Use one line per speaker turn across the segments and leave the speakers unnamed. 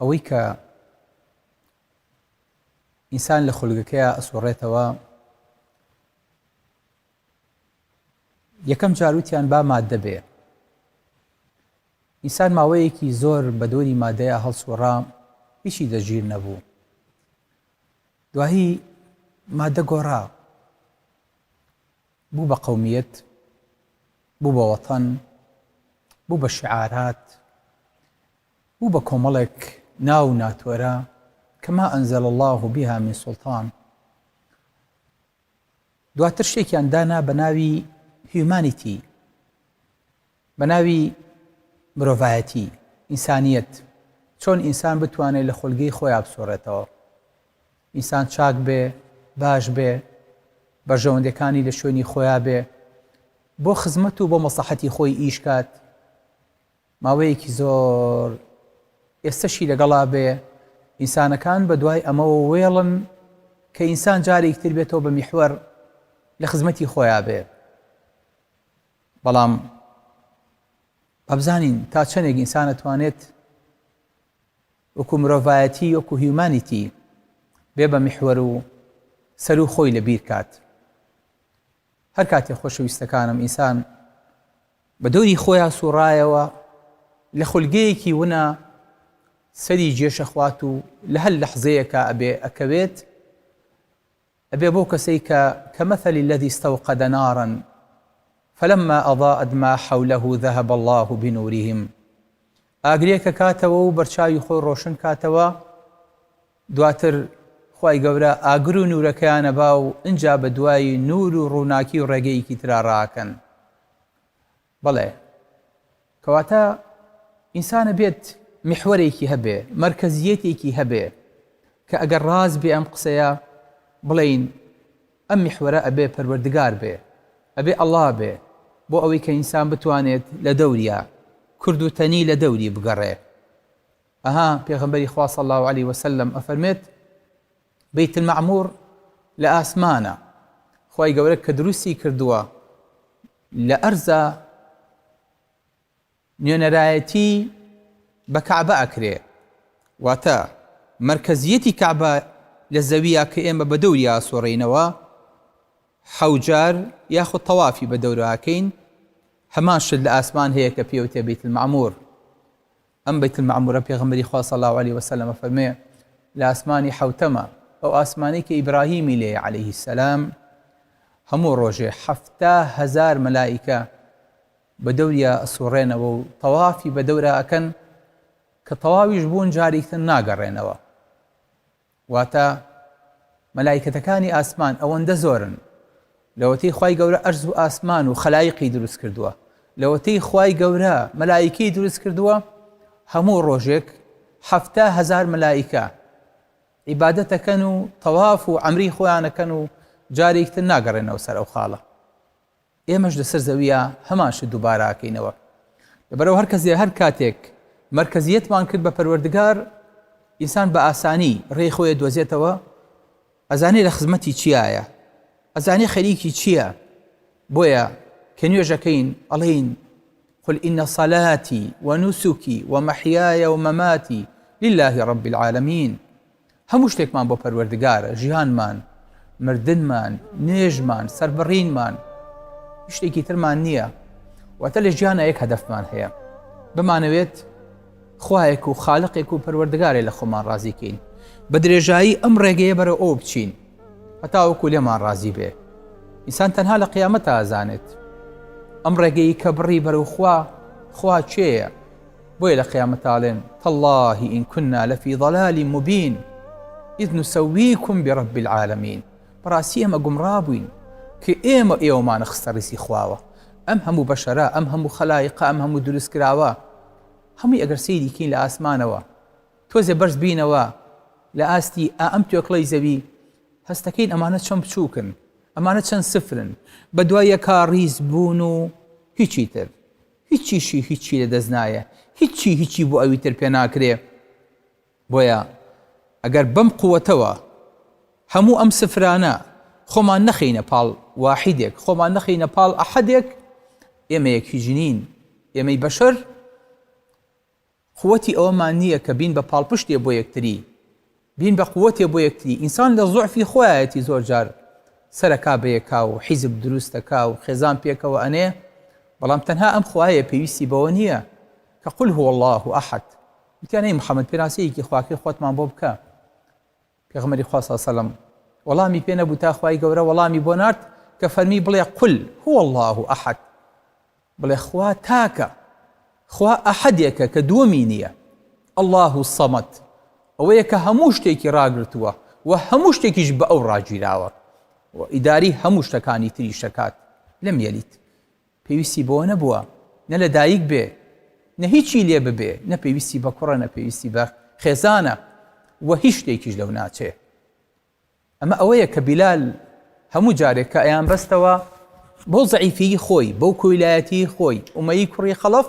ئەوەی کە ئینسان لە خولگەکەیا ئەسوڕێتەوە یەکەم جار وتیان با ماددە بێ ئینسان ماوەیەکی زۆر بە دۆری مادەیە هەڵسوڕا هیچی دەژیر نەبوو دواهی مادە گۆڕا بوو بە قومیت بوو بە وەتەن بوو بە شعارات بوو بە کۆمەڵێک ناو و ناتۆرە کە ما انزل اللە بها من سلطان دواتر شتێکیان دانا بە ناوی هیومانیتی بە ناوی مرۆڤایەتی ئینسانیت چۆن ئینسان بتوانێت لە خۆلگەی خۆی بسۆڕێتەوە ئینسان چاک بێ باش بێ بەرژەوەندەکانی لە شوێنی خۆیا بێ بۆ خزمەت و بۆ مەسەحەتی خۆی ئیشکات ماوەیەکی زۆر ئێستەشی لەگەڵا بێ، ئینسانەکان بە دوای ئەمەوە وێڵن کە ئینسان جارێکی تر بێتەوە بە میحوەر لە خزمەتی خۆیا بێ. بەڵام با بزانین تا چەندێک ئینسان ئەتوانێت وەکو مرۆڤایەتی وەکو هیومانیتی بێ بە میحوەر و سەر و خۆی لە بیر کات. هەر کاتێ خۆشەویستەکانم ئینسان بە دەوری خۆیا سوڕایەوە لە خولگەیەکی ونا سەری جێشەخوات و لە هەر لەحزەیەکە ئەبێ ئەکەوێت ئەبێ بۆ کەسەی کە کە مەثلی الذي استوقد نارا فلما اضاءت ما حوله ذهب الله بنورهم ئاگرێکە کاتەوە و بەرچاوی خۆی ڕۆشن کاتەوە دواتر خوای گەورە ئاگر و نوورەکەیان ئەبا و ئنجا بە دوای نوور و ڕووناکی و ڕێگەیەکی ترا ڕائەکەن بەڵێ کەواتە ئینسان ئەبێت محوەرێکی هەبێ مەرکەزیەتێکی هەبێ کە ئەگەر ڕاست بێ ئەم قسەیە بڵین ئەم محوەرە ئەبێ پەروەردگار بێ ئەبێ ئەڵا بێ بۆ ئەوەی کە ئینسان بتوانێت لە دەوریا کورد و تەنی لە دەوری بگەڕێ ئەها پێغەمبەری خوا صلی اللە علیە وسلم ئەفەرمێت، بیت المعمور لە ئاسمانە، خوای گەورە کە دروستی کردووە، لە ئەرزا نوێنەرایەتی بە کەعبە ئەکرێ، واتە مەرکەزیەتی کەعبە لە زەویە کە ئێمە بە دەوری ئاسۆڕێینەوە حەوجار یاخود تەوافی بە دەورەکەین هەمان شت لە ئاسمان هەیە کە پێوتێ بیت المعمور ئەم بەیت المەعمورە پێغەمبەری خوا صلی اللە علیە وسلم فەرموێ لە ئاسمانی حەوتەمە، ئەو ئاسمانەی کە ئیبراهیمی لێیە علیە السلام، هەموو ڕۆژێ حەفتا هەزار مەلائیکە بە دەوریا ئەسوڕێنەوە و تەوافی بە دەورا ئەکەن کە تەواویش بوون جاریکتر ناگەڕێنەوە. واتە، مەلایکەتەکانی ئاسمان ئەوەندە زۆرن، لەوەتەی خوای گەورە ئەرز و ئاسمان و خەلایقی دروست کردووە، لەوەتەی خوای گەورە مەلایکەی دروست کردووە، هەموو ڕۆژێک حەفتا هەزار مەلایکە عیبادەت دەکەن و تەواف و عەمری خۆیان دەکەن و جارێکی تر ناگەڕێنەوە سەر ئەو خاڵە. ئێمەش لەسەر زەوییا هەمان شت دووبارە ئەکەینەوە لەبەرئەوە هەر کەس هەر کاتێک مەرکەزیەتمان کرد بە پەروەردگار ئینسان بە ئاسانی ڕێی خۆی دۆزێتەوە ئەزانێ لە خزمەتی چیایە ئەزانێ خەریکی چییە بۆیە کە نوێژەکەین ئەڵین قل إن صلاتي ونسكي ومحياي ومماتي لله رب العالمين هەموو شتێکمان بۆ پەروەردگارە، ژیانمان، مردنمان، نوێژمان، سەربڕینمان، هیچ شتێکی ترمان نییە، واتە لە ژیانا یەک هەدەفمان هەیە، بمانەوێت خوایەک و خالقێک و پەروەردگارێ لە خۆمان ڕازیکەین، بە درێژایی ئەم ڕێگەیە بەرەو ئەو بچین هەتاوەکو لێمان ڕازی بێ، ئینسان تەنها لە قیامەتا ئەزانێت ئەم ڕێگەی کە بڕی بەرەو خوا، خوا کێیە؟ بۆیە لە قیامەتا ئەڵێن تەڵڵاهی ئین کنا لەفی ضەلالی موبین ئید نوسەویکم برب العالمین بەڕاستی ئێمە گومڕا بووین کە ئێمە ئێوەمانە خستە ڕیزی خواوە ئەم هەموو بەشەرە ئەم هەموو خەلایقا ئەم هەموو دروست کراوە هەمووی ئەگەر سەیریکین لە ئاسمانەوە تۆزێ بەرز بینەوە لە ئاستی ئا ئەم توێکڵەی زەوی هەستەکەین ئەمانە چەند بچووکن ئەمانە چەند سفرن بە دوای یەکا ڕیز بوون و هیچی تر هیچیشی هیچی لە دەست نایە هیچی هیچی بۆ ئەوی تر پێ ناکرێ بۆیە ئەگەر بەم قوەتەوە هەموو ئەم سفرانە خۆمان نەخەینە پاڵ واحیدێک خۆمان نەخەینە پاڵ ئەحەدێک ئێمە یەک هیچ نین ئێمەی بەشەر قوتی ئەوەمان نیە کە بین بە پاڵپشتێ بۆ یەکتری بین بە قوتێ بۆ یەکتری ئینسان لە زوعفی خۆیایەتی زۆر جار سەرەکا بەیەکا و حیزب دروست دەکا و خێزان پێکەوە ئەنێ بەڵام تەنها ئەم خوایە پێویستی بەوە نیە کە قل هو اللە احد وتیان ئەی محمد پێناسەیەکی خواکەی خۆتمان بۆ بکە پێغەمبەری خوا صلی سەلەم وەڵامی پێ نەبوو تا خوای گەورە وەڵامی بۆ نارد کە فەرمی بڵێ قل هو اللە احد بڵێ خوا تاکە خوا ئەحدێکە کە دووەمی نییە اللە الصمد ئەوەیە کە هەموو شتێکی ڕاگرتووە و هەموو شتێکیش بە ئەو ڕاگیراوە و ئیداری هەموو شتەکانی تریش دەکات لەم یەلیت پێویستی بەوە نەبووە نە لە دایک بێ نە هیچی لێ ببێ، نە پێویستی بە کوڕە نە پێویستی بە خێزانە و هیچ شتێکیش لەو ناچێ. ئەمە ئەوەیە کە بیلال هەموو جارێک کە ئەیانبەستەوە بەو زەعیفیی خۆی، بەو کۆیلایەتیی خۆی، ئومەیی کوڕی خەڵەف،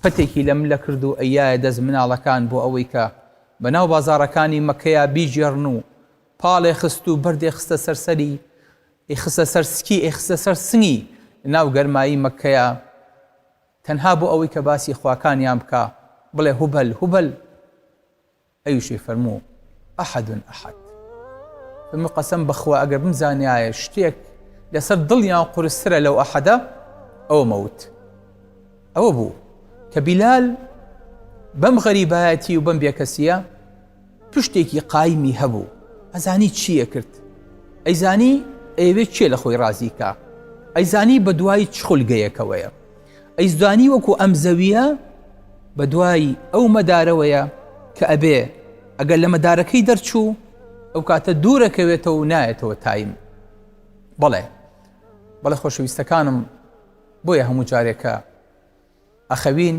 پەتێکی لە ملە کرد و ئەیایە دەست مناڵەکان بۆ ئەوەی کە بەناو بازاڕەکانی مەککەیا بیگێڕن و پاڵێ خست و بەردێ خستە سەر سەری، ی خستە سەر سکی، ی خستە سەر سنگی، لەناو گەرمایی مەککەیا، تەنها بۆ ئەوەی کە باسی خواکانیان بکا، بڵێ هوبەل، هوبەل، ئەویشی فەرموو، ئەحەد ئەحەد. فەرموو، قەسەم بەخوا ئەگەر بمزانیایە شتێک لەسەر دڵیان قورسترە لەو ئەحەدە، ئەوە مەوت. ئەوە بوو کە بیلال بەم غەریبایەتی و بەم بێکەسییە، پشتێکی قایمی هەبوو ئەزانی چی ئەکرد ئەیزانی ئەیەوێ کێ لەخۆی ڕازی کا ئەیزانی بەدوای چ خولگەیەکەوەیە ئەیزدانی وەکو ئەم زەویە بەدوای ئەو مەدارەوەیە کە ئەبێ ئەگەر لە مەدارەکەی دەرچوو ئەو کاتە دوورەکەوێتەوە و نایەتەوە تایم بەڵێ بەڵێ خۆشەویستەکانم بۆیە هەموو جارێکە ئەخەوین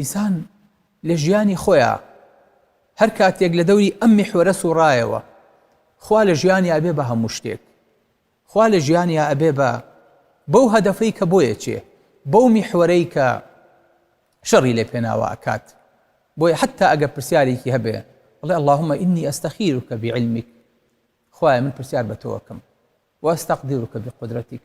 ئیسان لە ژیانی خۆیا هەر کاتێک لە دەوری ئەم میحوەرە سوڕایەوە خوا لە ژیانی ئەبێ بە هەموو شتێک خوا لە ژیانیا ئەبێ بە بەو هەدەفەی کە بۆیە چێ بەو میحوەرەی کە شەڕی لێ پێناوە ئەکات بۆیە حتا ئەگە پرسیارێکی هەبێ بڵێ اللهم ئینی ئەستەخیرکە بعلمک خوایە من پرسیار بە تۆکم واستەقدیرکە بقدرەتیک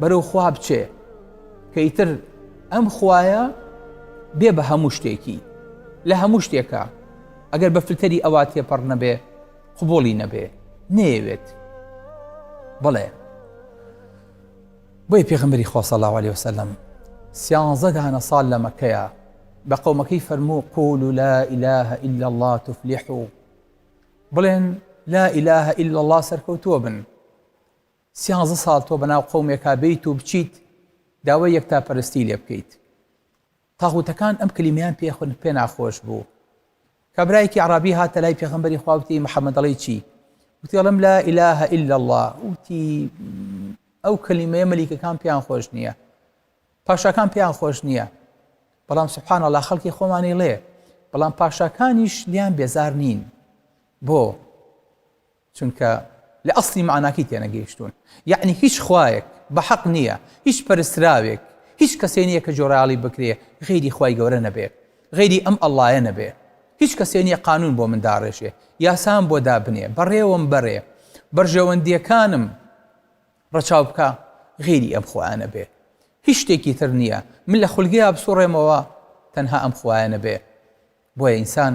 بەرەو خوا بچێ کەیتر ئەم خوایە بێ بە هەموو شتێکی لە هەموو شتێکە ئەگەر بە فلتەری ئەوە تێپەڕ نەبێ قوبڵی نەبێ نەیەوێت بڵێ بۆی پێغمبری خۆسە لاوەلی وسلم سیانزە دانە سال لە مەکەیە بە قەومەکەی فەرموو قول و لا إله إلا الله تفلح و بڵێن لا إله إلا الله سەرکەوتووە بن سیانزە ساڵ تۆ بەناو قەومێکا بێیت و بچیت داوای یەکتاپەرستی لێ بکەیت. تاغوتەکان ئەم کلیمەیان پێ پێ ناخۆش بوو. کابرایەکی ئەعرابی هاتە لای پێغەمبەری خوا وتی، محمد دەڵێی چی؟ وتی، ئەڵێم لا ئیلە ئیللا اللە. وتی، ئەو کلیمەیە مەلیکەکان پێیان خۆش نییە. پاشاکان پێیان خۆش نییە. بەڵام سبحان اللە خەڵکی خۆمانی ڵێ، بەڵام پاشاکانیش لیان بێزار نین. بۆ؟ چونکە لە ئەسڵی مەعناکەی تێنەگەیشتوون یەعنی هیچ خوایەک بە حەق نییە هیچ پەرستراوێک هیچ کەسێ نییە کە جۆرەاڵی بکرێ غەیری خوای گەورە نەبێ غەیری ئەم ئەڵڵایە نەبێ هیچ کەسێ نییە قانون بۆ من داڕێژێ یاسام بۆ دابنێ بەڕێوەم بەرێ بەرژەوەندییەکانم ڕەچاو بکا غەیری ئەم خوایە نەبێ هیچ شتێکی تر نییە من لە خولگەیا بسوڕێمەوە تەنها ئەم خوایە نەبێ بۆیە ئینسان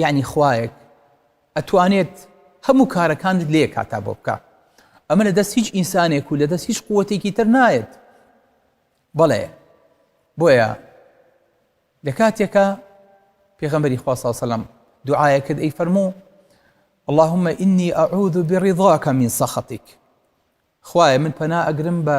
یەعنی خوایەک ئەتوانێت هەموو کارەکانت لە یەک کاتا بۆ بکا ئەمە لە دەست هیچ ئینسانێک و لە دەست هیچ قووەتێکی تر نایەت بەڵێ بۆیە لە کاتێکە پێغەمبەری خوا صلی الله علیه و سلم دوعایە کرد ئەی فەرموو اللهم إني أعوذ برضاك من سخطك خوایە من پەنا ئەگرم بە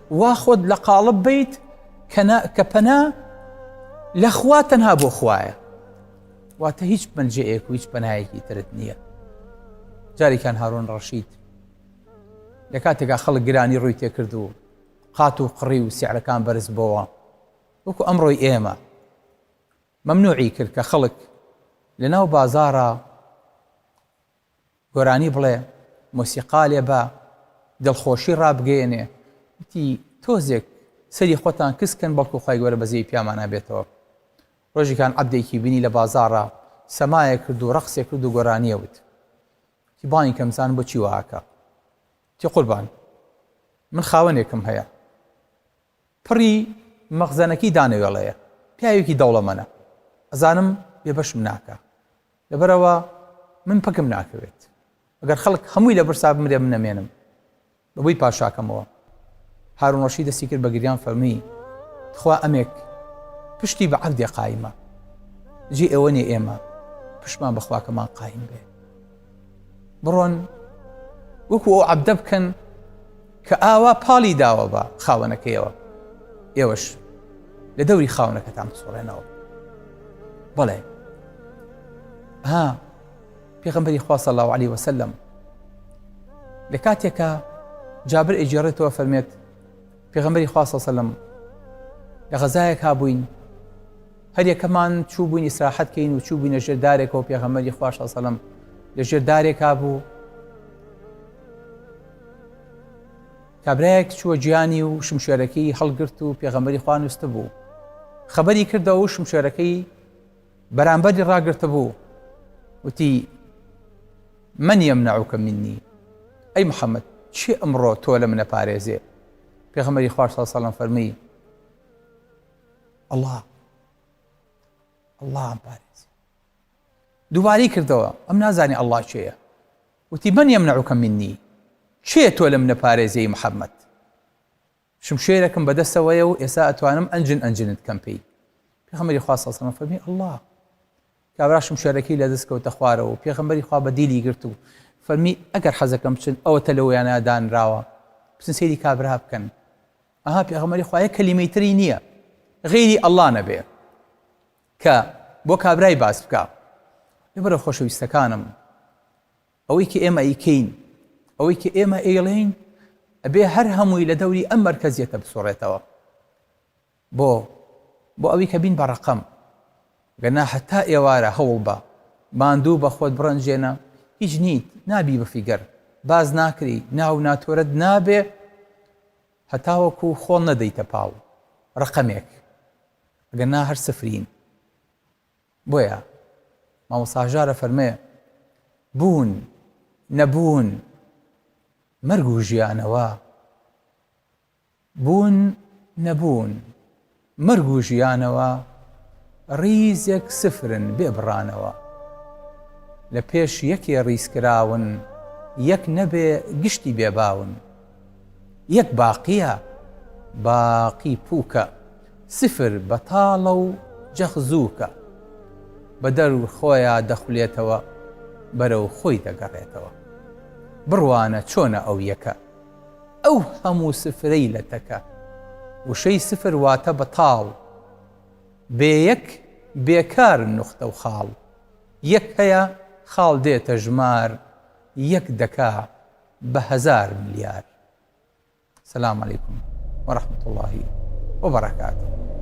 وا خۆت لە قاڵب بیت کە پەنا لە خوا تەنها بۆ خوایە واتە هیچ مەلجەیەک و هیچ پەنایەکی ترت نییە جارێکان هارۆن ڕەشید لە کاتێکا خەڵک گرانی ڕووی تێکرد و قات و قڕی و سیعرەکان بەرز بۆوە وەکو ئەمڕۆی ئێمە مەمنوعی کرد کە خەڵک لە ناو بازارە گۆرانی بڵێ، مۆسیقا لێ با، دڵخۆشی ڕابگەیەنێ، وتی، تۆزێک سەری خۆتان کز کەن بەڵکو خوای گەورە بەزەیی پیامانا بێتەوە. ڕۆژیکان عەبدێکی بینی لە بازاڕا سەمایە کرد و ڕەقسێ کرد و گۆرانیە وت. وتی، بانی کەم زان بۆچی وا ئەکا؟ وتی، قوربان من خاوەنێکم هەیە، پڕی مەخزەنەکەی دانەوێڵەیە پیاوێکی دەوڵەمەنە ئەزانم بێبەشم ناکا لەبەرئەوە من پکم ناکەوێت ئەگەر خەڵک هەمووی لە برسا بمرێ من نەمێنم بەبووی پاشاکەمەوە هارون ڕەشی دەستی کرد بە گریان فەرمی تخوا ئەمێک پشتی بە عەبدێ قایمە جێ ئێوە نێ ئێمە پشمان بەخواکەمان قایم بێ بڕۆن وەکو ئەو عەبدە بکەن کە ئاوا پاڵی داوە بە خاوەنەکەیەوە، ئێوەش لە دەوری خاوەنەکەتان بسوڕێنەوە. بەڵێ ها پێغمبەری خوا صلی الله عليه وسلم لە کاتێکە جابر ئەجێڕێتەوە فەرمێت پێغمبەری خوا صلی الله عليه وسلم لە غەزایەک هابووین هەر یەکەمان چوو بووین ئیسراحەت کەین و چوو بووینە ژێر دارێکەوە پێغەمەری خوش سەلم لە ژێر دارێکا بوو کابراایەک چووە گیانی و شمشێرەکەی هەڵگرت و پێغەمەری خوانوست بوو خبری کردەوە و شمشێرەکەی بەرامبەری ڕاگرتە بوو وتی من یەم ناوکە منی ئەی محەممەد چی ئەمڕۆ تۆ لە منە پارێزێ پێغەمەری خوش سەلم فەرمی اللە اللە عم بارز دووبارەی کردەوە ئەم نازانی ئەللا کێیە وتی من یەمنعوکە منی کێ تۆ لەم نەپارێزیی محەممەد شمشێرەکەم بەدەستەوەیە و ئێستا ئەتوانم ئەنجن ئەنجنت کەم پێی پێخەمەری خواستەسەمە فەرمی ئەللا کابرا شمشێرەکەی لە دەست کەوتە خوارەوە پێخەمبەری خوا بە دیلی گرت و فەرمی ئەگەر حەزەکەم بچن ئەوە تە لەوەیانە دانراوە بچن سەیری کابرا بکەن ئەها پێغەمبەری خوا یەک کەلیمەی تری نییە غەیری ئەڵڵا نەبێ کە بۆ کابرای باس بکە لەبەرە خۆشەویستەکانم ئەوەی کە ئێمە ئیکەین ئەوەی کە ئێمە ئێڵین ئەبێ هەر هەمووی لە دەوری ئەم مەرکەزیەتە بسوڕێتەوە بۆ بۆ ئەوی کە بین بە ڕقم گەنا هەتا ئێوارە هەوڵ بە ماندوو بە خۆت بڕەنجێنە هیچ نیت نابی بە فیگەر باز ناکری ناو ناتۆرت نابێ هەتاوەکو خۆڵ نەدەیتە پاڵ ڕەقەمێک ئەگەر نا هەر سفرین بۆیە مامۆستا هەژار ئەفەرمێ بوون نەبوون مەرگ و ژیانەوە بوون نەبوون مەرگ و ژیانەوە ڕیزێک سفرن بێ بڕانەوە لە پێش یەکێ ڕیزکراون یەک نەبێ گشتی بێ باون یەک باقیە باقی پوکە سفر بەتاڵە و جەخت زوکە بە دەر و خۆیا دەخولێتەوە بەرەو خۆی دەگەڕێتەوە بڕوانە چۆنە ئەو یەکە. ئەو هەموو سفرەی لە تەکە. وشەی سفر واتە بەتاڵ. بێ یەک بێکار نوختە و خاڵ. یەک هەیە خاڵ دێتە ژمار یەک دەکا بە هەزار ملیار. سلام علیکم و رحمت اللە و بەرکاتوه.